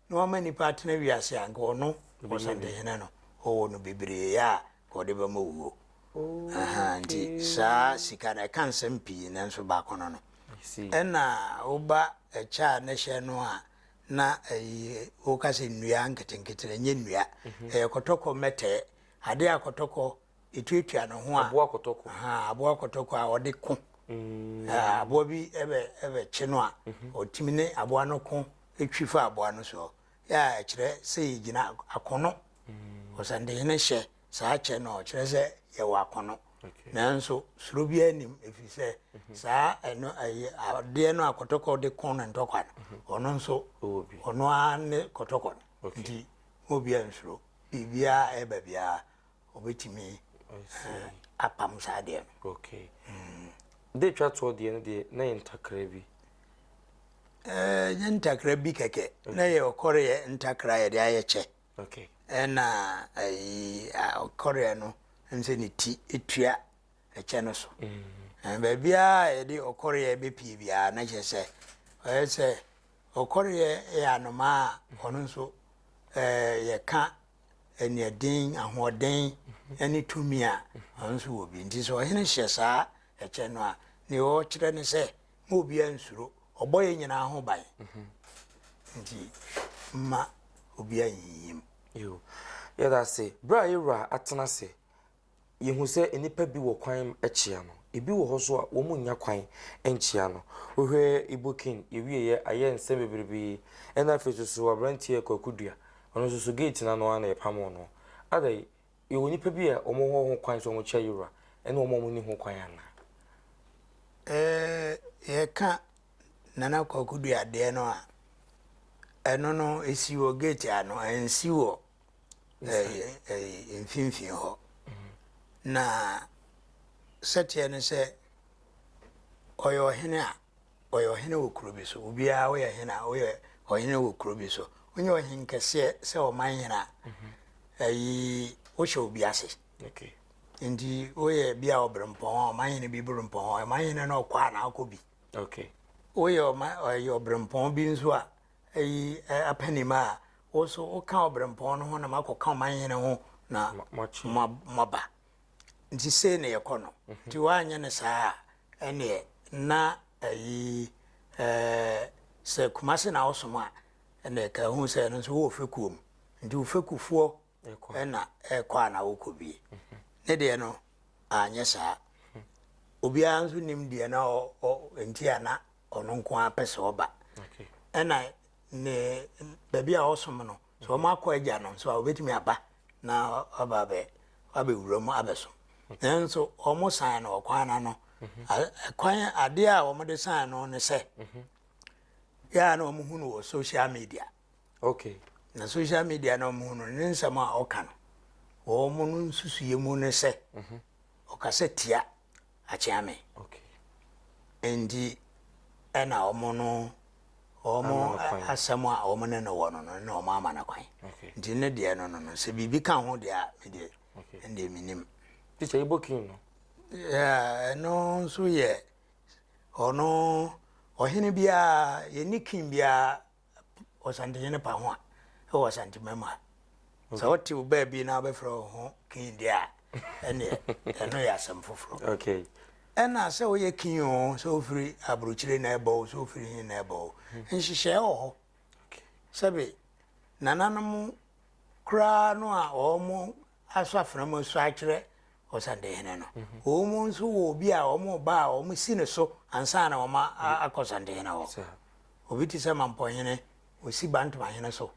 na wama nipa atena wiase a nka ɔno ɔsantehene no ɔwɔ no bebree a ɔde bɛma owuo oh, nti saa sika no ɛka nsɛm pii nanso baako no no ɛna woba ɛkyɛ a ne hyɛ no a na ɛyɛ woka sɛ nnua nketenkete ɛnyɛ nnua ɛyɛ kɔtɔkɔ mɛtɛɛ adeɛ a kɔtɔkɔ ɛtuatua ne ho a aboa kɔtɔkɔ aboa kɔtɔkɔ a ɔde ko mm. aboa bi ɛbɛ ɛbɛkye no a mhm. ɔtumi ne aboa no ko ɛtwi fa aboa no soɔ yɛ a ɛkyerɛ sɛ yɛgyina akono mm. ɔsɛndehene hyɛ saa kyɛ no, ɔkyerɛ sɛ yɛwɔ akɔnnɔ. Nanso suro biara nnim, ɛfiri sɛ mhm. saa ɛno ɛyɛ adeɛ no a kɔtɔkɔ de ko ne ntɔkwa no, mhm. ɔno nso ɔno ara ne kɔtɔkɔ no. Nti mo biara nsuro, biribiara ɛba biara ɔbɛtumi eh, apam saa adeɛ no. Okay. Mm. De twa toɔ deɛ no deɛ na yɛ ntakra bi. Ɛɛ eh, yɛ ntakra bi kɛkɛ na yɛ ɔkɔre yɛ ntakra yɛde ayɛ kyɛ. Ɛna ayi a ɔkɔreɛ no ɛm sɛ ne ti etua ɛkyɛ no so. Na baabiara a yɛde ɔkɔreɛ bɛpie biara na kyerɛ sɛ ɔyɛ sɛ ɔkɔreɛ yɛ anomaa a ɔno nso ɛɛ yɛka aniaden ahoɔden ɛne tumi a ɔno nso wɔ bi nti sɛ ɔhene hyɛ saa ɛkyɛ no a nea ɔkyerɛ ne sɛ ma obiara nsuro. Ɔbɔ yɛn nyinaa ho ban, nti mma obiara nnyiyim. Yo, yɛda ase. Berɛ a yɛn wura atena ase, yɛhu sɛ nnipa bi wɔ kwan kyea no. Ebi wɔ hɔ nso a, wɔnnya kwan nkyea no. Wohwɛ Ibokin, yɛwieeɛ, ayɛ nsɛm bebrebe. Ɛna afei nso so, aberanteɛ Kwaku Dua, ɔno nso so gate no ano ara na yɛpamoo no. Adɛn? Yɛwɔ nnipa bi a wɔwɔ ho kwan sɛ wɔkyɛ Yoruba ne wɔn a wɔnni ho kwan anaa? Eh, yɛka Nana Kwaku Duadeɛ no a, ɛno no ɛsi wɔ gate ano, ɛnsi wɔ mfimfini hɔ. Na sɛteɛ no sɛ ɔyɛ ɔhene a Ɔyɛ ɔhene wɔ kuro bi so. Obiara, woyɛ hene a, woyɛ ɔhene wɔ kuro bi so. Wonyɛ ɔhene kɛseɛ sɛ ɔman hene a, ayi wohyɛ obi ase. Nti woyɛ bi a ɔberempɔn a, ɔman hene bi berempɔn a, ɔman hene no ɔkɔ a na akɔ bi. Woyɛ ɔberempɔn bi nso a, ayi apanim a, wo so woka ɔberempɔn no ho na makɔka ɔman hene ho na moaba. Nti sei na yɛkɔ no. Nti woanyɛ no saa a, Ɛneɛ na ayi ɛɛ sɛ Kumasi na wosom a ɛneɛ ka hu sɛ ɛno nso wowɔ fekuo mu nti wo fekufoɔ ɛna ɛkɔ a na wokɔ bie. Ne deɛ no anyɛ saa. Obiara nso nim deɛ na ɔ ɔ nti a na ɔno nko ara pɛ sɛ ɔba. Ɛna ne baabi a ɔsom no So wɔakɔ Agya no nso a, wɔbɛtumi aba na wɔaba abɛ abɛwura mu abɛsom. Nanso wɔn san no ɔkwan no ano. Mhm. Kwan adeɛ a wɔde san no ne sɛ, mhm. yɛa na wɔhu no wɔ social media. Okay. Na social media na wɔhu no ne nsɛm a ɔka no, wɔn no nsusuyɛ mu ne sɛ, mhm. ɔkasa tia. akyea me nti ɛna wɔn no wɔn asɛm a wɔn ne no wɔ no no na wɔn ama no kwan nti ne deɛ no no no sɛ biribi ka ho deɛ a me deɛ ɛndeɛ me nim. ti sɛ ibo king no. ɛno nso yɛ ɔno ɔhene biara yɛne king biara Ɔsantehene pa ho a ɛwɔ Asantemam ha. Sɛ wote wo baabi na wobɛfrɛ wo ho kin deɛ a, ɛneɛ ɛno yɛ asɛm foforɔ. Ɛna sɛ woyɛ kin o, sɛ wofiri aburokyire na ɛbɔ o, sɛ wofiri he na ɛbɔ o, nhyehyɛɛ wɔ hɔ. Sɛbe nananom koraa no a wɔn asɔ afena mu asua akyerɛ Ɔsantehene no. Wɔn nso wɔ obi a wɔba a wɔsi no so ansa na wɔakɔ Ɔsantehene hɔ. Obi te sɛ Mampɔhene, wɔsi Bantomahene so.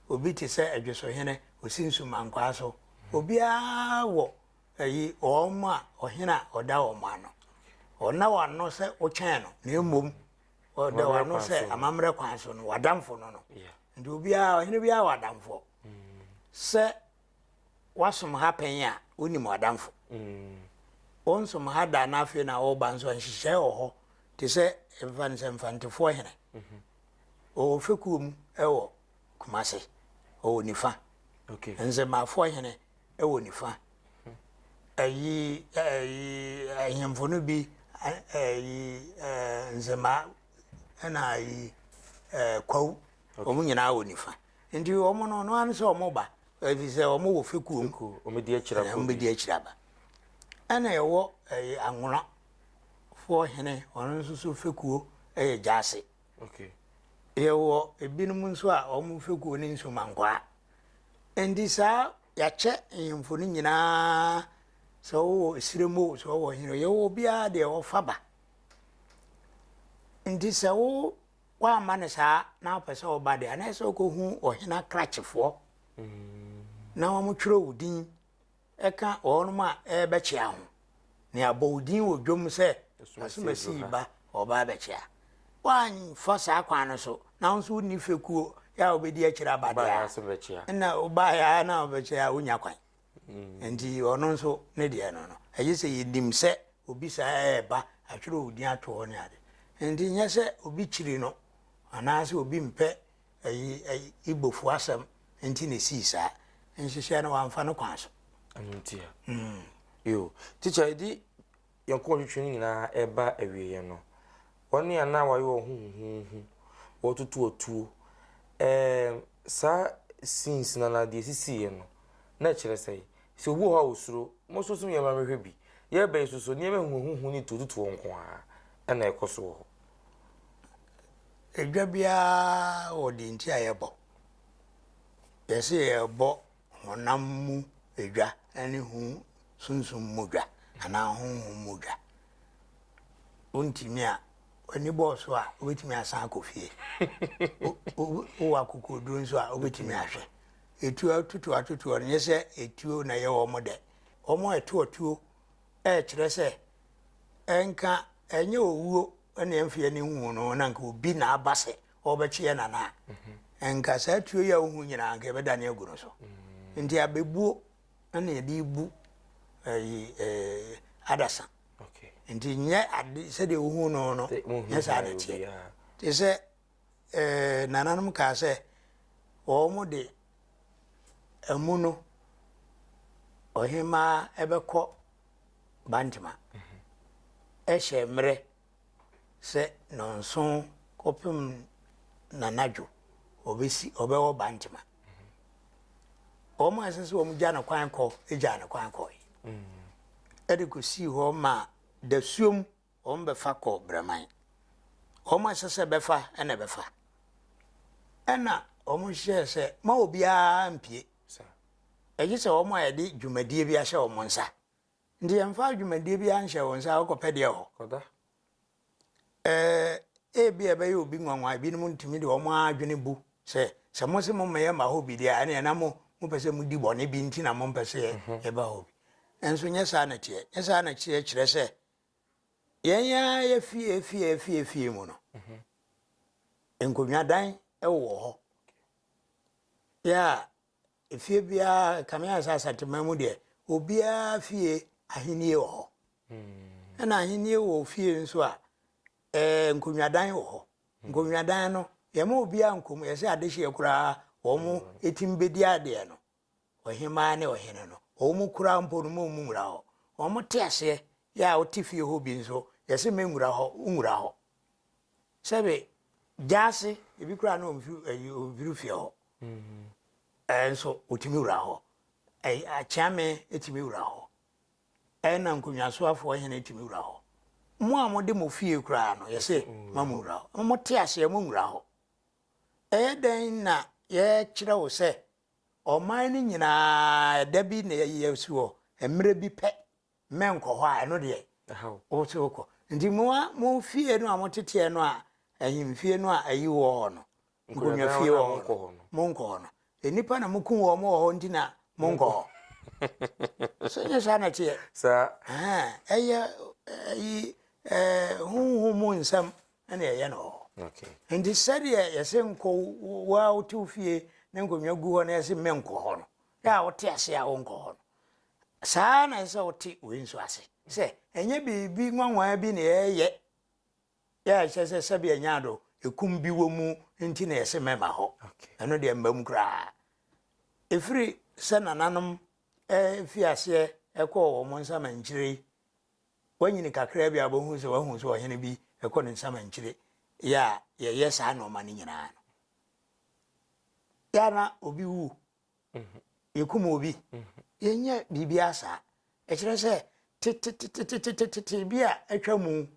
Obi te sɛ Adwosohene, wɔsi Nsumankwaa so. Obiara wɔ ayi wɔn a ɔhene a ɔda wɔn ano. Ɔnna wɔn ano sɛ wotwɛn no, na mmom ɔda wɔn ano sɛ amammerɛ kwan so no, w'adamfo no no. Nti obiara, ɔhene biara wɔ adamfoɔ. Sɛ wasom ha pɛn a, wonim w'adamfo. Wonsom ha da na afei na woba nso a, nhyehyɛe wɔ hɔ te sɛ mfa no sɛ Mfantefoɔ hene. Ɔwɔ fekuo mu wɔ Kumase, ɔwɔ nifa. Nzemafoɔ hene wɔ nifa. Ayi, ayi, ahemfo no bi, ayi, nzemaa ɛna ayi ɛɛ eh, kwawu wɔn nyinaa wɔ nifa nti wɔn no ɔno ano sɛ wɔn ba efi sɛ wɔn wɔ fekuo mu wɔn di akyire aba wɔn bɛ di akyire aba ɛna ɛwɔ ɛyɛ eh, anwona foɔ hene wɔn nso so fekuo ɛyɛ eh, gyaase yɛwɔ ebinom nso a wɔn fekuo ne nsumankwaa nti saa yɛakyɛ nhemfo no nyinaa sɛ wɔwɔ esirem o sɛ wɔwɔ hene yɛwɔ obiara deɛ wɔfa ba Nti sɛ wo woamma no saa na wopɛ sɛ ɔba deɛ anaa sɛ wokɔhu ɔhene akrakyefoɔ mm. na wɔtwerɛ wo din ɛka wɔnom a ɛbɛkyea ho ne abɔ wo din wɔ dwom sɛ asomasi ba ɔba abɛkyea woamfa saa kwan no so na wo nso wonni fekuo yɛ a wobɛdi akyiri abadeɛ a na wobaeɛ a na wobɛkyɛ a wonya kwan Nti ɔno nso ne deɛ no no, ɛgye sɛ yɛnim sɛ obi saa ɛreba, atwerɛ wo din ato hɔ ne ade. Nti nyɛ sɛ obi kyiri no, anaasɛ obi mpɛ ayi ayi Igbofo asɛm nti na ɛsii saa. Nhyehyɛɛ no wɔamfa no kwan so. Ɛno nti a. Mm. Yo. Teacher, ɛdi yɛn nkɔntwitwi no nyinaa reba awieeɛ no, wɔn a na wɔayɛ wɔn ho huhuuhu, wɔretutu atuo, ɛɛm, saa scenes no anaa deɛ ɛsisiiɛ no, na ɛkyerɛ sɛn? Sɛ obi wɔ hɔ a ɔsuro, mo nso so yɛn mma mehwɛ bi. Yɛreba yi nso so, nneɛma huhuuhu ne tuotutuo nko ara na ɛkɔ so wɔ hɔ. Edwa biara wɔ deɛ nti a yɛbɔ. Yɛse yɛrebɔ honam mu dwa ne ho sunsum mu dwa anaa honhom mu dwa. Wontumi a, w'ani bɔɔ so a, wobɛtumi asan akɔ fie. Wowɔ akokoɔduro nso a, wobɛtumi ahwɛ. Etuo atutuo atutuo no, nyɛ sɛ etuo na ɛyɛ wɔn dɛ. Wɔn a ɛto atuo ɛrekyerɛ sɛ ɛnka ɛnyɛ owuo na ɛmfeɛ ne nwuu no, na nka obi na aba sɛ Wɔbɛkye yɛn anaa? Anka saa tuo yi a wohu nyinaa, anka yɛbɛdane agu no so. Nti abɛbuo na yɛde bu ayi eh, adasa. Nti nyɛ ade sɛdeɛ wohu no no, nyɛ saa na teɛ. Te sɛ eh, nananom kaa sɛ wɔn de amu no ɔhemaa ɛbɛkɔ Bantama ɛhyɛ mmerɛ. sɛ nnɔnson kɔpem n'anadwo ɔbɛsi ɔbɛwɔ Bantama. Wɔn a ɛsɛ sɛ wɔn gya no kwan kɔ gyaa no kwan kɔe. Ɛde kɔsii hɔ ma dasuom wɔn bɛfa kɔ Braman. Wɔn a ɛsɛ sɛ bɛfa na ɛbɛfa. Ɛna wɔn hyɛɛ sɛ ma obiara mpie. Ɛgye sɛ wɔn a yɛde dwumadie bi ahyɛ wɔn nsa Nti yɛmfa dwumadie biara nhyɛ wo nsa a wokɔpɛ deɛ wɔ hɔ. Eh, ebia ɛbɛyɛ obi nwanwa, ebinom ntumi de wɔn ara adwene bu sɛ sɛ mose mommɛyɛ mma hɔ bi deɛ a ɛneɛ na mo mopɛ sɛ modi bɔne bi nti na mompɛ sɛ mhm. yɛba hɔ bi. Nanso nyɛ saa na teɛ. Nyɛ saa na teɛ kyerɛ sɛ yɛn ara yɛ fie fie fie fie mu no mhm. nkonnwadan wowɔ hɔ yɛ a Efie biara, ɛkame ayɛ sɛ Asanteman mu deɛ, obiara fie ahennie wɔ hɔ. Ɛna ahennie wɔ ofie nso a, ɛɛ nkonnwadan wɔ hɔ. Nkonnwadan no, yɛma obiara nkɔm, yɛsɛ adehyeɛ koraa wɔn ɛtim bɛdi adeɛ no, ɔhemaa ne ɔhene no, wɔn koraa mpo no ma wɔn nwura hɔ. Wɔn te aseɛ yɛ a wote fie hɔ bi nso, yɛsɛ mɛnwura hɔ, wonwura hɔ. sɛbe gyaase, ebi koraa na ɔmfiri ayi ɔmfiri fie hɔ. Ɛnso ɔtumi wura hɔ. Akyeame tumi wura hɔ. Ɛna nkonnwasoafoɔ hene tumi wura hɔ. Mo a mode mo fie koraa no, yɛse ma mo wura hɔ. Mo te aseɛ mo nwura hɔ. Ɛyɛ dɛn na yɛkyerɛ wo sɛ ɔman no nyinaa ɛda bi na yɛsi hɔ, mmerɛ bi pɛ. menkɔ hɔ a, ɛno deɛ wo nso wokɔ. Nti mo a mo fie no a moteteɛ no a ahemfie no a ayi wɔ hɔ no, nkonnwafie wɔ hɔ no, monkɔ hɔ no. Nnipa na mokum wɔn wɔ hɔ nti na monkɔ hɔ. So nyɛ saa na ɛteɛ? Ɛyɛ honhom mu nsɛm na ɛyɛ no wɔ hɔ. Nti sɛdeɛ yɛse nkɔ wo a wote wo fie na nkonnwa gu hɔ na yɛse menkɔ hɔ no, Yɛ a wote ase a wonkɔ hɔ no, saa ara na ɛsɛ sɛ wote wei nso ase, sɛ ɛnyɛ biribi nwanwa bi na yɛreyɛ a ɛkyerɛ sɛ sɛbea nyaado ekum bi wɔ mu nti na yɛse mɛma hɔ. Ɛno deɛ mmam koraa. Ɛfiri sɛ nananom fi aseɛ kɔɔ wɔn nsamankyire yi, woanyini kakraa bi a wobɛhu sɛ woahu sɛ ɔhene bi kɔ ne nsamankyire yɛ a yɛyɛ saa nnoɔma no nyinaa no. Yɛ a na obi wu yɛkum obi. Yɛnyɛ biribiara saa. Ɛkyerɛ sɛ tetetetetete bi a atwa mu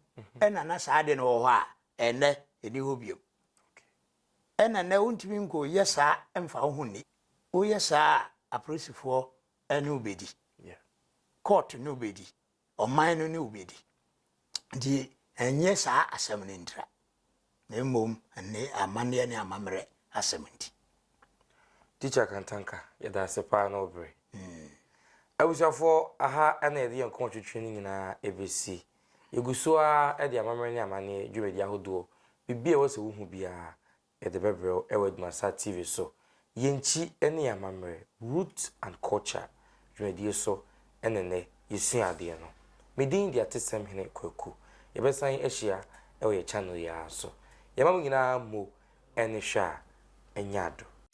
ɛna na saa ade no wɔ hɔ a ɛnnɛ ɛni hɔ biom. Ɛna nnɛ wontumi nko yɛ saa mfa wo ho nni. Woyɛ saa a apolisifoɔ ne wobɛdi, court ne wobɛdi, ɔman no ne wo bedi. Enti ɛnyɛ saa asɛm no ntira, na mmom nne amanneɛ ne amammerɛ asɛm nti. Teacher Kantanka, yɛda ase paa ne wo bere. Abusuafoɔ, aha na yɛde yɛn nkɔmɔtwetwe no nyinaa ɛbɛsi. Yɛgu so ara de amammerɛ ne amanneɛ dwumadie ahodoɔ, biribi a ɛwɔ sɛ wohu biara, Yɛde bɛbrɛ wo wɔ Adwumasaa TV so. Yɛn nkyi ne yɛn amammerɛ, Roots and Culture, dwumadie so ne nnɛ yɛsua adeɛ no. Me din de Atesɛm Hene Kwaku. Yɛbɛsan ahyia wɔ yɛn channel yi ara so. Yɛma mo nyinaa mo ani hwɛ a, ɛnyɛ adɔ.